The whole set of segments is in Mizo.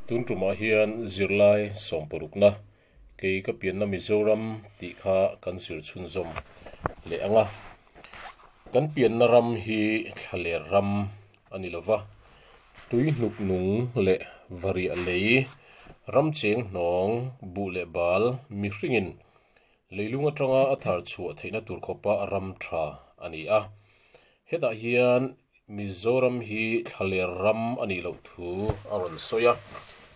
Tun tumah hian zirlai sawmpawrukna kei ka pianna Mizoram tih kha kan zir chhunzawm leh ang a. Kan pianna ram hi thlaler ram a ni lo va, tui hnuk nung leh variah lei, ramcheng hnawng, buh leh bal, mihringin leilung atanga a thar chhuah theihna tur khawpa ram tha a ni a. Hetah hian Mizoram hi thlaler ram a nih loh thu a rawn sawi a,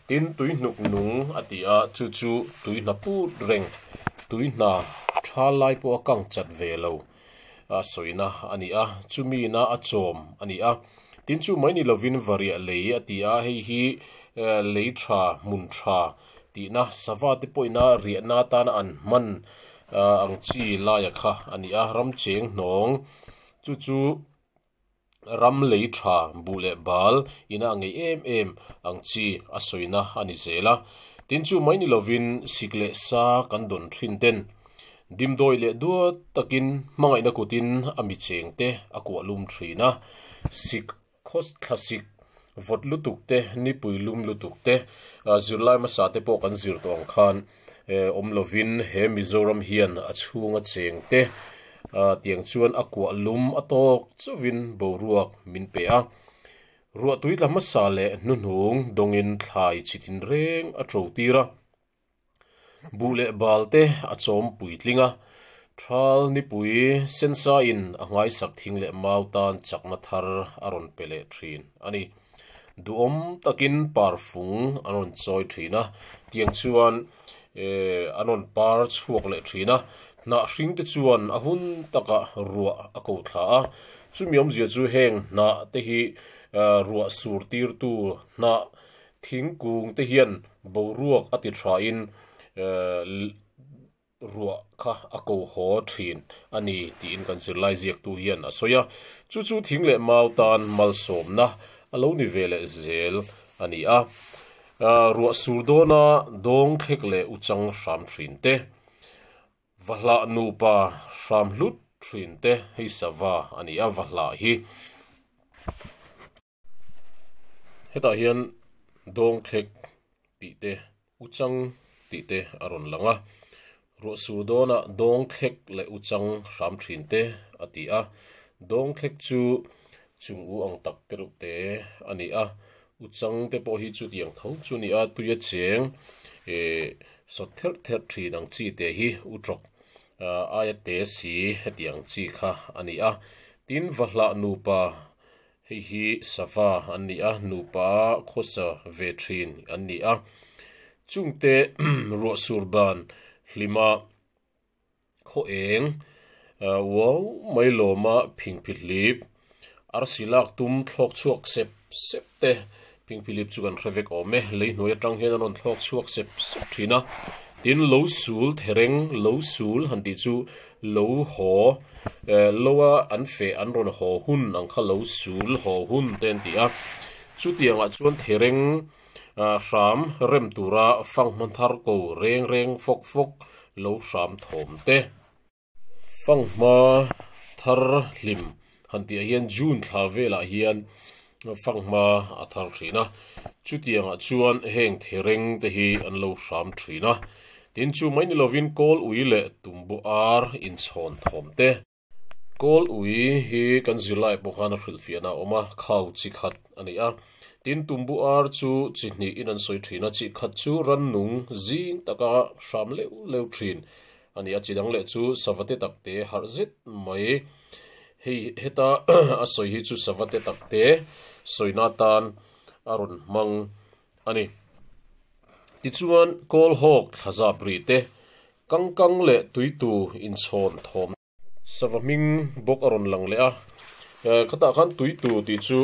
tin tuihnuk nung a tih a, chu chu tui hna put reng, tui hna tha lai pawh a kang chat ve lo a sawina a ni a, chumina a chawm a ni a. Tin chu mai ni lovin variah lei a ti a, hei hi lei tha, hmun tha tihna sava te pawhin a riahna atana an hman ang chi laia kha a ni a, ramcheng hnawng chu chu. ram lei tha buh leh bal ina a ngeih em em ang chi a sawina a ni zel a. Tin, chu mai ni lovin sik leh sa kan dawn thin ten dimdawi leh duat takin hmangaihna kutin a mi cheng te a kuahlum thin a. Sik khaw thla sik vawt lutuk te nipui lum lutuk te zirlai hmasa te pawh kan zir tawh ang khan awm lovin he Mizoram hian a chhunga cheng te a tiang chuan a kuah lum a tawk chauhin boruak min pe a. Ruahtui tlama sa leh hnuhnung dawngin thlai chitin reng a to tir a. Buh leh bal te a chawm puitling a, thal nipui sensa in a nghaisak thing leh mau tan chakna thar a rawn pe leh thin a ni. Duhawm takin parfung an rawn chawi thin a, tiang chuan an rawn par chhuak leh thin a, hnah hring te chuan a hun taka ruah a ko thla a. Chumi awmzia chu heng hnah te hi ruah sur tirtu hnah thingkung te hian boruak a ti thain ruah kha a ko haw thin a ni tiin kan zirlai ziaktu hian a sawi a. Chu chu thing leh mau tan malsawmna a lo ni ve leh zel a ni a. Ruah sur dawna dawng thlek leh uchang hram thin te, va hlah nupa hram hlut thin te hei sava a ni a, va hlah hi. Hetah hian Dawngthlek tih te, Uchang tih te a rawn lang a. Ruahsûdâwna Dawngthlek leh Uchang hram ṭhin te a ti a. Dawngthlek chu chûng u ang tak tereuh te a ni a. Uchang te pawh hi chutiang tho chu a ni a, tuia chêng eeh sawt therh therh ṭhin ang chi te hi u ṭawk aia te si hetiang chi kha a ni a. Tin, Vahlah nupa Hei hi sava an ni a, nupa khawsa ve thin an ni a. Chungte ruahsur dan hlima khaw eng uau mai lawma phingphi hlip, arsi lak tum thlawk chhuak sep sep te King Philip chu kan hre vek awm e, lei hnuai atang hian a rawn thlawk chhuak sep sep thin a, tin lo sul thereng lo sul han tih chu lo haw eh lo a an feh an rawn haw hun ang kha lo sul haw hun te an tih a, chutiang ah chuan thereng ah hram rem tura fang hman thar ko reng reng fawk fawk lo hram thawm te. Fanghma thar hlim han tihah hian June thla velah hian fanghma a thar thin a, chutiangah chuan heng thereng te hi an lo hram thin a. Tin, chu mai ni lovin kawl ui leh tumbu ar inchhawn thawm te. Kawl ui hi kan zirlaiah pawh khan a hrilhfiahna a awm a, khau chi khat a ni a. Tin, tumbu ar chu chi hnih in an sawi thin a, chi khat chu rannung zing taka hram leuh leuh thin. A nih a chi dang leh chu sava te tak te harh zet mai. Hei heta a sawi hi chu sava te tak te sawina atan a rawn hmang a ni. Tichuan kawl hawk thlazap rih te, kang kang leh tuitu inchhawn thawm te. Sava hming bawk a rawn lang leh a, ka tah khan tuitu tih chu.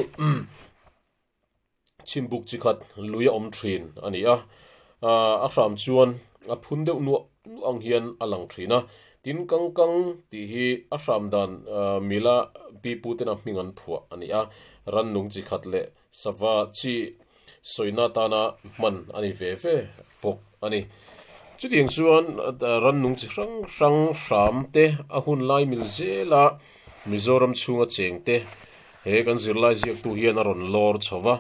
Chimbuk chi khat lui a awm thin a ni a, a hram chuan a phun deuh nuah nuah ang hian a lang thin a. Tin kang kang tih hi a hram dan Mila pi pu tena hming an phuah a ni a, rannung chi khat leh sava chi sawi na tana hman a ni ve ve bawk a ni. Chutiang chuan rannung chi hrang hrang hram te a hun lai mil zela Mizoram chhunga cheng te He kan zirlai ziaktu hian a rawn lawr chho va,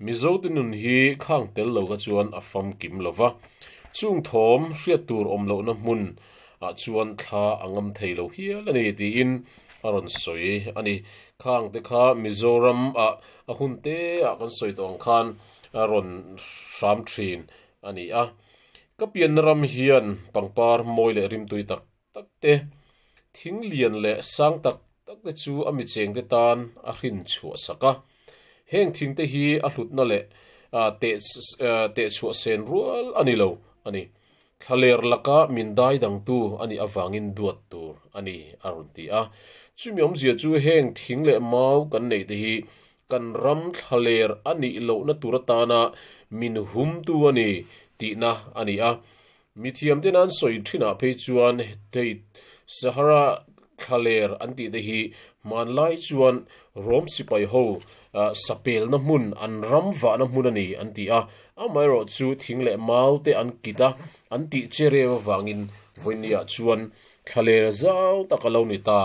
Mizote nun hi khang tel lo kha chuan a fam kim lo va. Chung thawm hriat tur awm lohna hmun ah chuan thla a ngam thei lo hial a ni tiin a rawn sawi a ni. Khang te kha Mizoram ah a hun te ah kan sawi tawh ang khan a rawn hram thin a ni a. Ka pianna ram hian pangpar mawi leh rimtui tak tak te, thing lian leh sang tak tak te chu a mi cheng te tan a hrin chhuah sak a. Heng thing te hi a hlutna leh teh chhuah sen rual a ni lo a ni. Thla ler laka min dai dang tu a nih avangin duat tur a ni, a rawn ti a. Chumi awmzia chu heng thing leh mau kan neih te hi kan ram thla ler a nih lohna tur atana min hum tu a ni tihna a ni a. Mithiam te nan sawi thinah phei chuan hei Sahara thlaler an tih te hi hmanlai chuan Rom sipai ho sapelna hmun an ram vahna hmun a ni an ti a, amaherawh chu thing leh mau te an kit a, an tih che reu avangin vawinia chuan thlaler zau tak a lo ni ta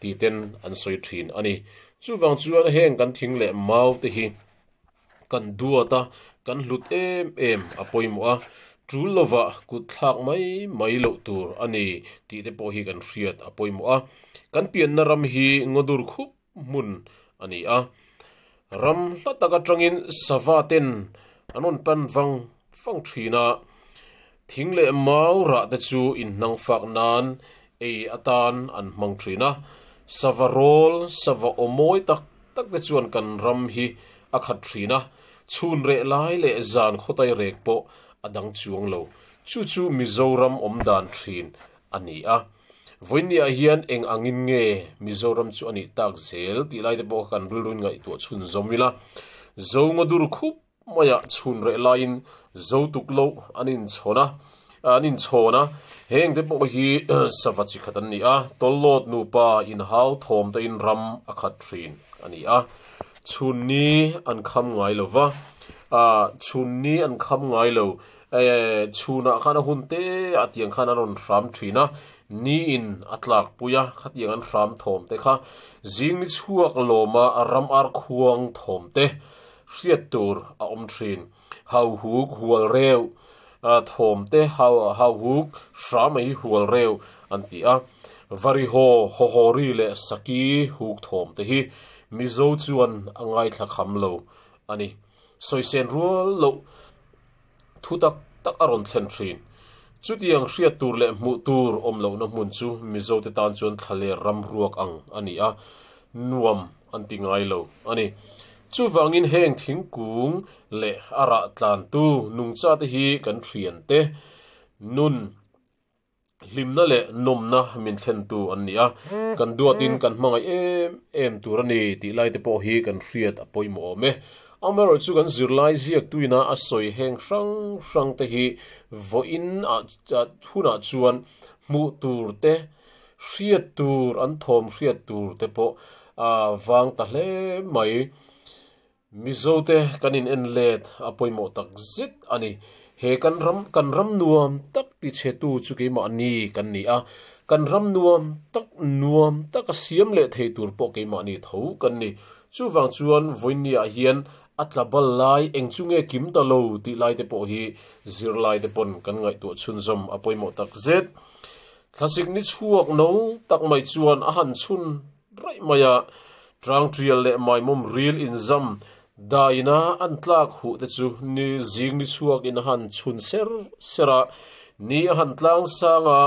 tih ten an sawi thin a ni. Chuvang chuan heng kan thing leh mau te hi. Kan duat a, kan hlut em em a pawimawh a, tul lova kutthlak mai mai loh tur a ni tih te pawh hi kan hriat a pawimawh a. Kan pianna ram hi ngawdur khup hmun a ni a, ram hla tak atangin savaten an rawn pan vang vang thin a, Thing leh mau rahte chu inhnang fak nan ei atan an hmang thin a. Sava rawl, sava awmawi tak tak te chuan kan ram hi a khat thin a, chhun reh lai leh zan khawtai rek pawh a dang chuang lo. Chu chu Mizoram awmdan thin a ni a. Vawinia hian eng angin nge Mizoram chu a nih tak zel tih lai te pawh kha kan rilru ingaihtuah chhunzawm ila, Zongadur khup Maya chhun reh laiin zotuk loh an inchhawn a, an inchhawn a, heng te pawh hi sava chi khat an ni a, Tawllawt nupa inhau thawm te in ram a khat thin a ni a, chhun ni an kham ngai lo va, ah chhun ni an kham ngai lo, eh chhun ah khan a hun te ah tiang khan an rawn hram thin a, ni in a tlak pui a, khatiang an hram thawm te kha zing ni chhuak lawm a ram ar khuang thawm te hriat tur a awm thin. Hauhuk hual reu ah thawm te hauhuk hra mai hual reu an ti a. Varihaw, Hawhawri leh Saki huk thawm te hi Mizo chuan a ngaithla kham lo a ni. Sawi sen rual loh thu tak tak a rawn thlen thin. Chutiang hriat tur leh hmuh tur awm lohna hmun chu Mizo te tan chuan thlaler ram ruak ang a ni a, nuam an ti ngai lo a ni. Chuvangin heng thingkung leh a rah tlantu nungchate hi kan hrian te, nun, Hlimna leh nawmna min thlentu an ni a, kan duatin kan hmangaih em em tur a ni tih lai te pawh hi kan hriat a pawimawh awm e. Amaherawh chu kan zirlai ziaktuina a sawi heng hrang hrang te hi vawiin hunah chuan hmuh tur te, hriat tur an thawm hriat tur te pawh vang ta hle mai. Mizo te kan in en let a pawimawh tak zet a ni. He kan ram, kan ram nuam tak ti che tu chu keimah ni kan ni a, kan ram nuam tak, nuam tak a siam leh thei tur pawh keimah ni tho kan ni. Chuvang chuan Vawinia-ah hian a tla bal lai eng chu nge kim ta lo tih lai te pawh hi zirlai te pawn kan ngaihtuah chhunzawm a pawimawh tak zet. Thlasik ni chhuak no tak mai chuan a han chhun raih mai a, tang tial leh maimawm ril inzam dah ina an tlak huh te chu ni zing ni chhuak in a han chhun ser ser a, ni a han tlang sang a,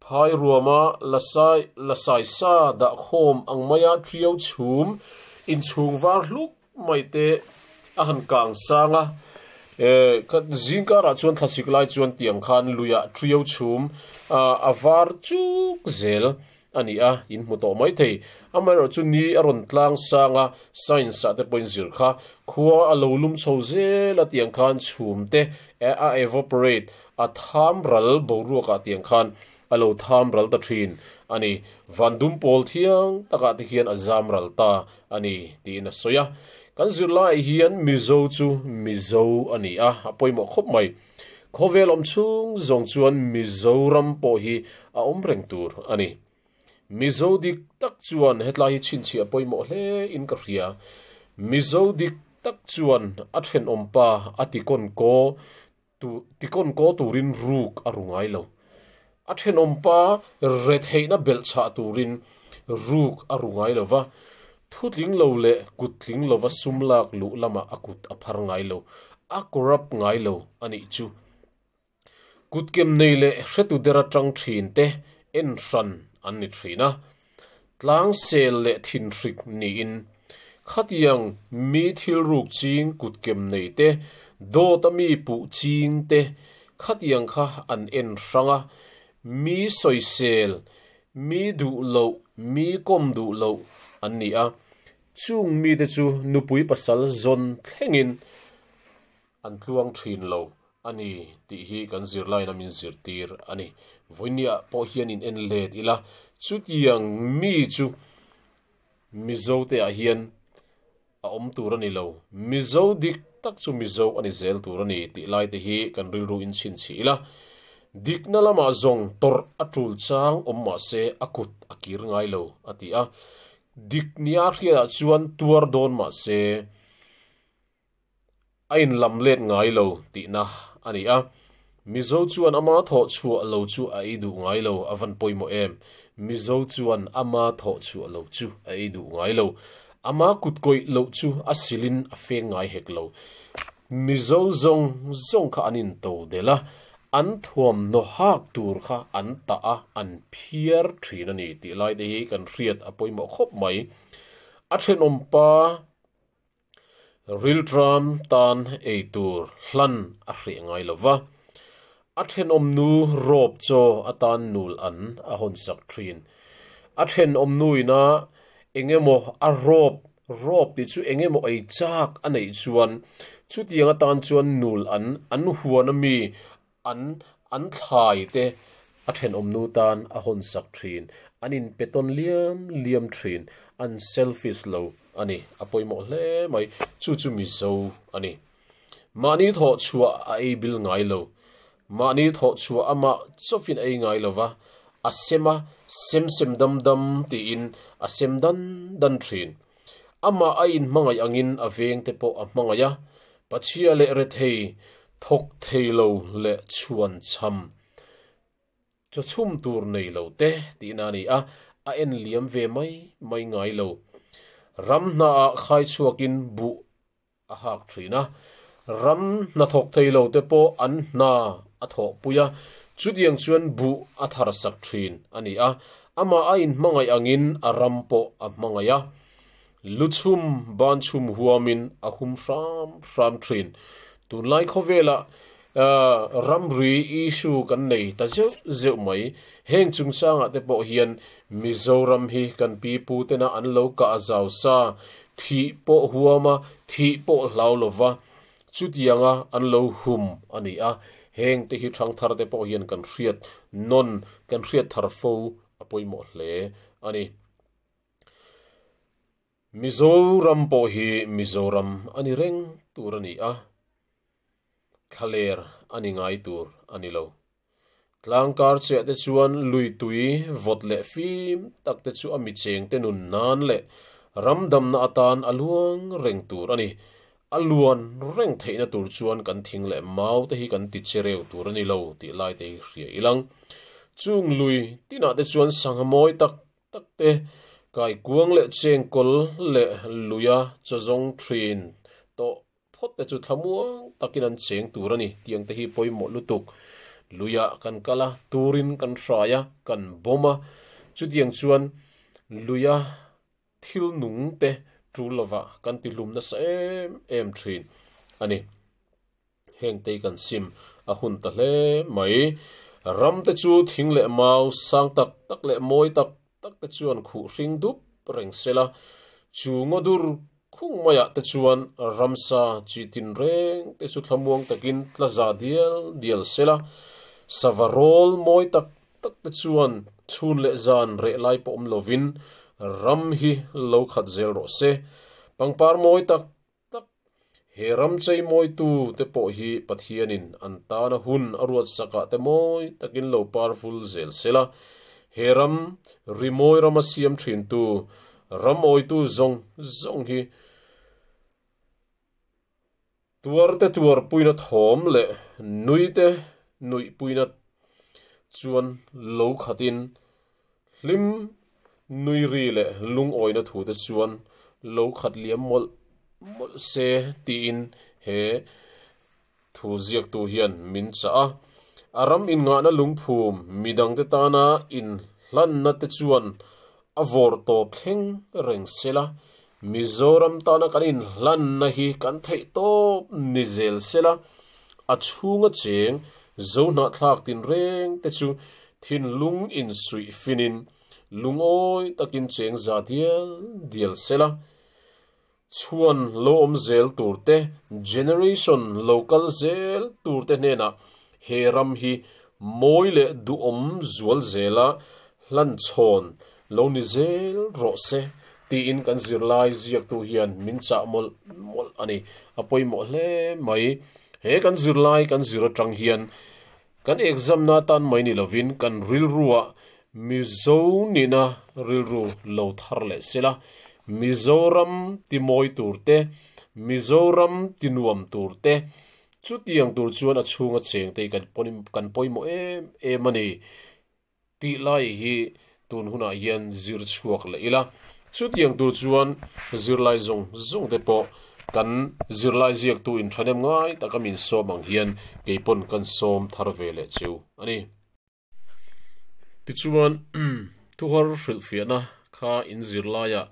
phai ruam a, la sai la sai sa dah khawm ang mai a, ṭiau chhum inchhung var hluk Maite a han kang sang a, zingkarah chuan thlasik lai chuan tiang khan luiah ṭrio chhum a var chuk zel a ni a, in hmu tawh mai thei. Amaherawh chu ni a rawn tlang sang a, science-ah te pawhin zir kha khua a lo lum chho zel a tiang khan chhum te a evaporate, a tham ral boruakah tiang khan a lo tham ral ta ṭhin a ni. Van dum pawl thiang takah te hian a zam ral ta a ni tiin a sawi a. Kan zirlaiah hian Mizo chu Mizo a ni a, a pawimawh khawp mai. Khawvel awm chhung zawng chuan Mizoram pawh hi a awm reng tur a ni. Mizo dik tak chuan hetlai hi chhinchhiah pawimawh hle in ka hria. Mizo dik tak chuan a thenawmpa a ti kawn kaw Tu tikawn kaw turin ruk a ru ngai lo. A thenawm pa retheihna belh chah turin ruk a ru ngai lo va, thutling lo leh kuttling lova sum lak luh lamah a kut a phar ngai lo, a corrupt ngai lo a nih chu. Kutkem nei leh hretuder atang thin te en hran an ni thin a. Tlangsel leh thinhrik niin khatiang mi thilruk ching kutkem nei te, dawt a mi puh ching te khatiang kha an en hrang a, mi sawisel, mi duh loh, mi kawm duh loh an ni a. Chung mite chu nupui pasal zawn thlengin an tluang thin lo a ni tih hi kan zirlaiin min zirtir a ni. Vawinia pawh hian in en let ila, chutiang mi chu Mizo te ah hian a awm tur a ni lo, Mizo dik tak chu Mizo a ni zel tur a ni tih lai te hi kan rilru in chhinchhih ila, dikna lam ah zawng tawrh a tul chang awm mah se a kut a kir ngai lo a ti a, dik nia hriat ah chuan tuar dawn mah se, a inlam let ngai lo tihna a ni a, Mizo chuan ama thawh chhuah lo chu a ei duh ngai lo a van pawimawh em, Mizo chuan ama thawh chhuah lo chu a ei duh ngai lo, ama kutkawih loh chu a silin a feng ngai hek lo. Mizo zawng zawng kha an into del a, an thuam naw hak tur kha an tah a, an phiar thin a ni tih lai te hi kan hriat a pawimawh khawp mai. A thenawm pa Rilṭam tan ei tur hlan a hreh ngai lo va, a ṭhenawmnu rawp chaw a tan nul an a hawnsak ṭhin. A ṭhenawmnu inah eng emaw a rawp rawp tih chu eng emaw ei chak a neih chuan chutianga tan chuan nul an an huan ami An an thlai te a thenawmnu tan a hawn sak thin, an in pe tawn liam liam thin, an selfish lo a ni a pawimawh hle mai, chu chu mizo a ni. Mahni thawh chhuah a ei bil ngai lo, mahni thawh chhuah amah chawfin ei ngai lo va, a sem a sem sem dam dam tiin a sem dan dan thin. Amah a inhmangaih angin a vengte pawh a hmangaih a, pachia leh rethei thawk thei lo leh chhuan chham chawchhum tur nei lo te tihna ni a, a en liam ve mai mai ngai lo. Ram hna ah khai chhuakin buh a hak thin a, ram hnathawk thei lo te pawh an hna a thawh pui a, chutiang chuan buh a tharsak thin a ni a, amah a inhmangaih angin a ram pawh a hmangaih a, lu chhum ban chhum huamin a hum hram hram thin. Tunlai khawvelah A ramri issue kan nei ta zeuh zeuh mai. Heng chungsanga te pawh hian Mizoram hi kan pi pu tena an lo kah zau sa, thih pawh huam a, thih pawh hlau lo va, chutianga an lo hum a ni a. Heng te hi thang thar te pawh hian kan hriat nawn, kan hriat thar fo a pawimawh hle a ni. Mizoram pawh hi Mizoram a ni reng tur a ni a, thlaler a ni ngai tur a ni lo. Tlangkar chiah te chuan lui tui vawt leh fim tak te chu a mi cheng te nun nan leh ram damna atan a luang reng tur a ni. A luan reng theihna tur chuan kan thing leh mau te hi kan ti che reu tur a ni lo tih lai te hi hria ilang. Chung lui tinah te chuan sangha mawi tak tak te, kaikuang leh chengkawl leh luia chawzawng thin tawh phawt te chu thlamuang takin an cheng tur a ni tih ang te hi pawimawh lutuk luia kan kal a, turin kan hrai a, kan bawm a. Chutiang chuan luia thil nung te tul lovah kan tihlum nasa em em thin a ni. Heng tei kan sim a hun ta hle mai. Ram te chu thing leh mau sang tak tak leh mawi tak tak te chuan khuh hring dup reng se la, chu ngaw dur khung mai ah te chuan ramsa chi tin reng te chu thlamuang takin tla za dial dial se la, sava rawl mawi tak tak te chuan chhun leh zan reh lai pawm lovin ram hi lo khat zel rawh se. Pangpar mawi tak tak. He ram chei mawitu te pawh hi Pathianin an tana hun a ruat sakah te mawi takin lo parvul zel sela, he ram rimawi ram a siam thintu ram awitu zawng zawng hi tuarte tuarpuina thawm leh nuite nuihpuina chuan lo khatin Hlim, nui ri leh lungawina thute chuan lo khat liam mawlh mawlh se tiin he thu ziaktu hian min chah a. A ram inngahna lungphum midangte tana inhlanna te chuan a vawr tawp thleng reng se la, Mizoram tana kan inhlanna hi kan theih tawp ni zel sela, a chhunga cheng zo hnahthlak tinreng te chu thinlung insuih finin lungawi takin cheng za dial dial sela, chhuan lo awm zel tur te, generation lo kal zel tur te hnenah He ram hi mawi leh duhawm zual zela hlan chhawn lo ni zel rawh se tiin kan zirlai ziaktu hian min chah mawlh mawlh a ni. A pawimawh hle mai. He kan zirlai kan zir atang hian kan examna atan mai ni lovin kan rilrua Mizo nihna rilru lo thar leh se la, Mizoram timawi turte, Mizoram tinuam turte, Chutiang tur chuan a chhunga cheng te kan pawh kan pawimawh em em a ni tih lai hi tun hunah hian zir chhuak leh ila. Chutiang tur chuan zirlai zawng zawng te pawh kan zirlai ziaktu in thahnem ngai taka min sawm ang hian keipawn kan sawm thar ve leh chu a ni. Tichuan, thuhar hrilhfiahna kha in zirlaiah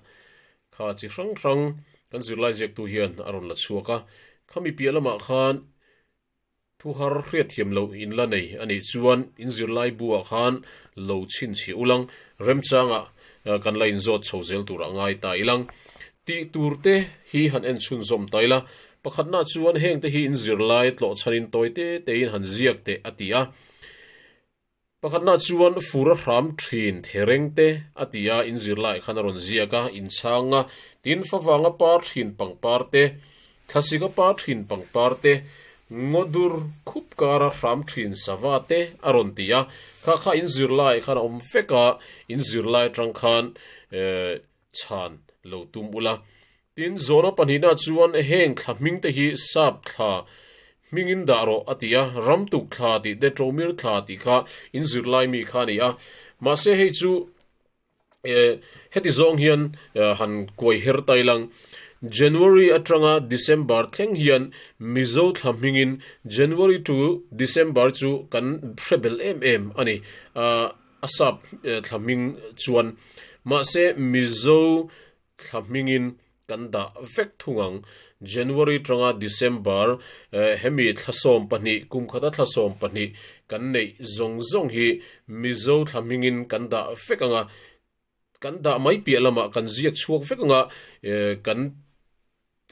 kha chi hrang hrang kan zirlai ziaktu hian a rawn la chhuak a. Khami piah lamah khan thuhar hriat thiam lo in la nei a nih chuan in zirlai buah khan lo chhinchhiah ulang, remchangah kan la in zawt chho zel turah ngai ta ilang. Tih turte hi han en chhunzawm ta ila, pakhatnah chuan hengte hi in zirlai tlawhchhanin tawite teiin han ziak teh a ti a. Pakhatnaah chuan fur a hram thin the reng te a ti a, in zirlaiah khan a rawn ziak a, in chhang a, tin fa vanga par thin pangpar te, thlasika par thin pangpar te, ngaw dur khup kara hram thin sava te a rawn ti a, kha kha in zirlaiah khan a awm vek a, in zirlai atang khan eh. chhan lo tum ula. Tin, Jonah pahnihna chuan heng thla hmingte hi Sap thla hmingin dah rawh a ti a, ramtuk thla tih Detromir thla tih kha in zir lai mi kha a ni a. Mahse hei chu heti zawng hian han kuai her tai lang. January atanga December thleng hian Mizo thla hmingin January to December chu kan hre belh em em a ni. a sap thla hming chuan mahse Mizo thla hmingin kan dah vek thung ang, January tanga December hemi thla sawm pahnih, kumkhata thla sawm pahnih kan neih zawng zawng hi Mizo thla hmingin kan dah vek ang a, Kan dah mai piah lamah kan ziak chhuak vek anga kan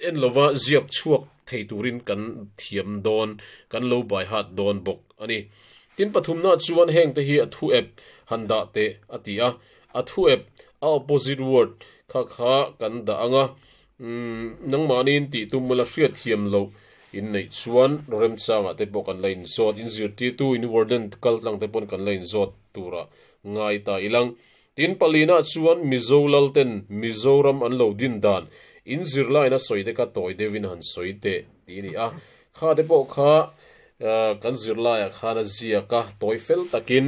en lova ziak chhuak thei turin kan thiam dawn, kan lo baihat dawn bawk a ni. Tin, pathumnaah chuan hengte hi a thuep han dah teh a ti a. A thuep, a opposite word, kha kha kan dah ang a. Umm, nangmahni in tih tum la hriat thiam loh in neih chuan remchang ah te pawh kan la in zawt, in zirtirtu in warden kal tlang te pawn kan la in zawt tur ah ngai ta i lang. Tin, palin ah chuan Mizo lal ten Mizoram an lo din dan in zir lai na sawi te kha tawi deuh in han sawi teh tih i ni a. Kha te pawh kha kan zir lai ah khan a ziak a, tawi fel tak in.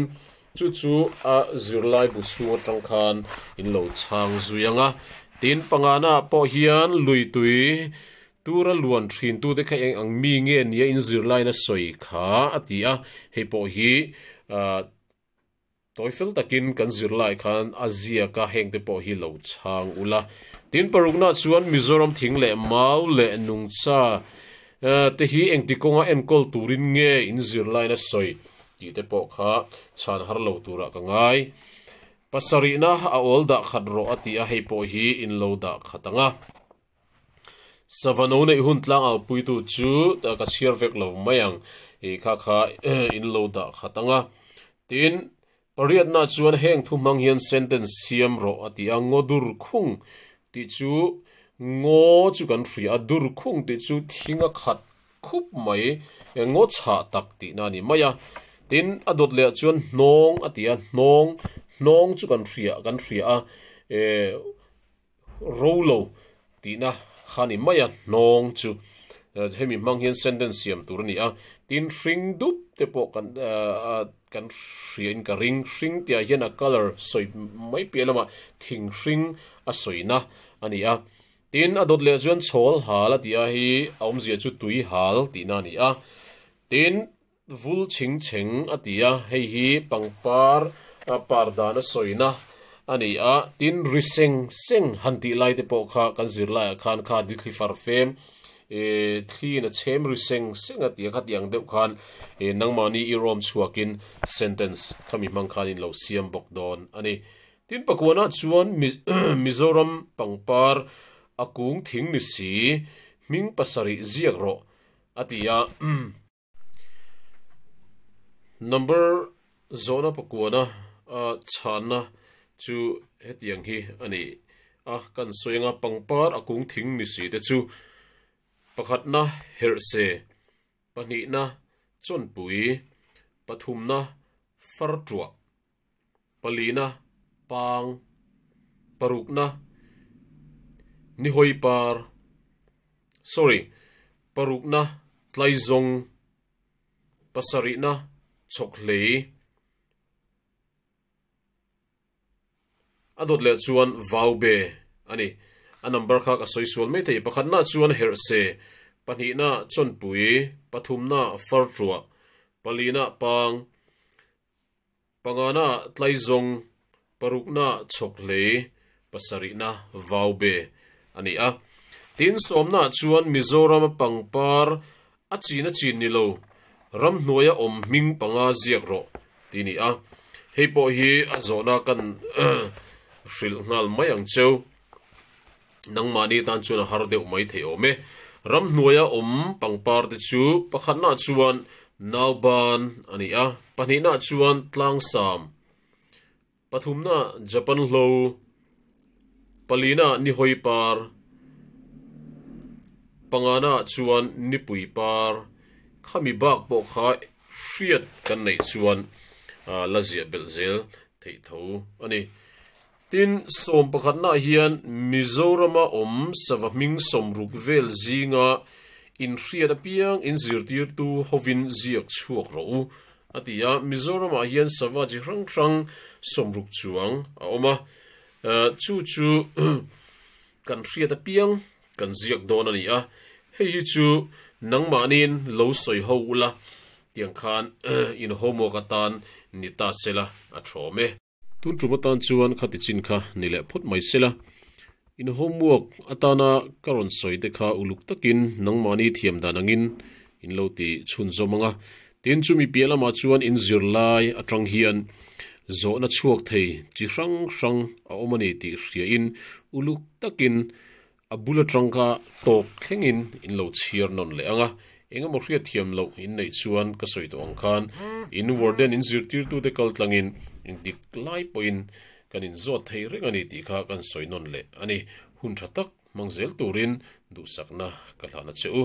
Chu chu a zirlai bu chhung atang khan in lo chhang zui ang a. Tin, panganah pawh hian lui tui tura luan thintute kha eng ang mi nge nia in zirlaina sawi kha a ti a. Hei pawh hi tawi fel takin kan zirlai khan a ziak a, hengte pawh hi lo chhang ula. Tin, paruknaah chuan Mizoram thing leh mau leh nungcha te hi engti kawnga enkawl turin nge in zirlaina sawi Tih te pawh kha chhan har lo turah ka ngai. Pasarihna a awl dah khat rawh a tih a, hei pawh hi in lo dah khat ang a. Sava no neih hun tlang au puitu chu ka chhiar vek lo mai ang i kha kha in lo dah khat ang a. Tin, pariatna chuan heng thu hmang hian sentence siam rawh a ti a, Ngo dur khung tih chu Ngo chu kan hria a, dur khung tih chu thing a khat khup mai engaw chhah tak tihna a ni mai a. Tin, a dawt leh chuan hnawng a ti a, hnawng, hnawng chu kan hria, kan hria a, e, ro lo tihna kha a ni mai a, hnawng chu. Hemi hmang hian sentence siam tur a ni a. Tin, hring dup te pawh kan, e, a, kan hriain ka ring. Hring tihah hian a colour sawi mai piah lamah thing hring a sawina a ni a. Tin, a dawt leh chuan chawl hal a ti a hi a awmzia chu tui hal tihna a ni a. Tin, vul ching cheng a ti a, hei hi pangpar par dana sawina a ni a. Tin, ri seng seng han tih lai te pawh kha kan zir laiah khan kha di thli far fem e, thlin a chem ri seng seng a ti a, khatiang deuh khan e nangmahni i rawm chhuakin sentence khami hmang khan in lo siam bawk dawn a ni. Tin pakuanah chuan Mizoram pangpar a kung thing ni si, hming pasarih ziak rawh, a ti a. Number zawhna pakuana a chhanna chu hetiang hi a ni a, kan sawi anga pangpar a kung thing ni si te chu pakhatna herhse, pahnihna chawnpui, pathumna fartuah, Palina, pang, parukna, nihawi par, sorry, parukna, tlaizawng, pasarihna, chawkhlei, a dawt leh chuan vaube a ni. A number kha ka sawi sual mai thei. Pakhatnaah chuan herhse, pahnihnaah chawnpui, pathumnaah fartuah, palinaah pang, Pangana tlaizawng, parukna chhawk hle, pasarihna vau be a ni a. Tin, sawmnaah chuan Mizorama pangpar a chin a chin ni lo, ramhnuaia awm hming panga ziak rawh ti ni a. Hei pawh hi a zawhna kan hrilh nghal mai ang cheu. Nangmahni tan chuan a har deuh mai thei awm e. Ram hnuaia awm pangpar te chu pakhatnah chuan Nauban a ni a, pahnihna chuan Tlangsam, pathumna Japan Hlo, palina Nihoipar, pangana chuan Nipuipar kha mi bak pawh kha hriat kan neih chuan la ziah belh zel theih tho a ni. Tin, sawm pakhatnah hian Mizorama awm sava hming sawm ruk vel zinga inhriat apiang in zirtirtu hovin ziak chhuak rawh u a ti a. Mizoramah hian sava chi hrang hrang sawm ruk chuang a awm a, chu chu kan hriat apiang kan ziak dawn a ni a, hei hi chu nangmahnin lo sawi ho ula tiang khan in homework atan ni ta sela a thawm e. Tun tum atan chuan kha tichin kha ni leh phawt mai sela, in homework atana ka rawn sawi te kha uluk takin nangmahni thiam dan angin in lo ti chhun zawm anga, tin chu mi piah lamah chuan in zir lai atang hian zawhna chhuak thei chi hrang hrang a awm a ni tih hria in uluk takin A bula tangka tawk thlengin in lo chhiar nawn leh ang a, engemaw hriatthiam loh in neih chuan ka sawi tawh ang khan in warden in zirtirtute kal tlangin dik lai pawhin kan in zawt thei reng a ni tih kha kan sawi nawn leh a ni. Hun tha tak hmang zel turin duhsakna ka hlan a che u.